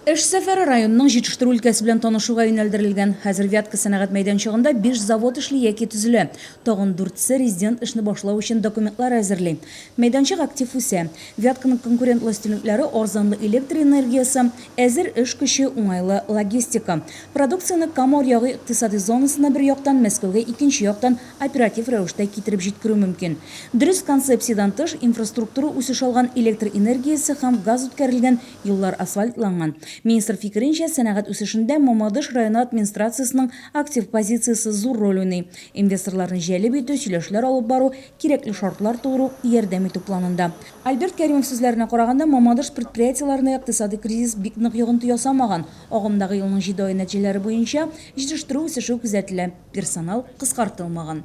Эш сәфәре районның җитештерү өлкәсе белән танышуга юнәлдерелгән. Хәзер Вятка сәнәгать мәйданчыгында биш завод эшли яки төзелә. Тагын дүртсе резидент эшне башлау өчен документлар әзерли. Мәйданчык актив үсә. Вятканың конкурентлы өстенлекләре, арзанлы электр энергиясе, әзер эш көче, уңайлы логистика. Продукцияне Кама Аръягы икътисади зонасына бер яктан, Мәскәүгә икенче яктан оператив рәвештә китереп җиткерү мөмкин. Дөрес концепциядән тыш, инфраструктура үсеш алган, электр энергиясе һәм газ үткәрелгән, Юллар асфальтланган. Министр фикеренчә, сәнәгать үсешендә Мамадыш районы администрациясенең актив позициясе зур роль уйный. Инвесторларны җәлеп итү, сөйләшләр алып бару, кирәкле шартлар тудыру, ярдәм итү планында. Альберт Кәримов сүзләренә караганда, Мамадыш предприятиеләренә икътисади кризис бик нык йогынты ясамаган. Агымдагы елның җиде ае нәтиҗәләре буенча, җитештерү үсеше күзәтелә, персонал кыскартылмаган.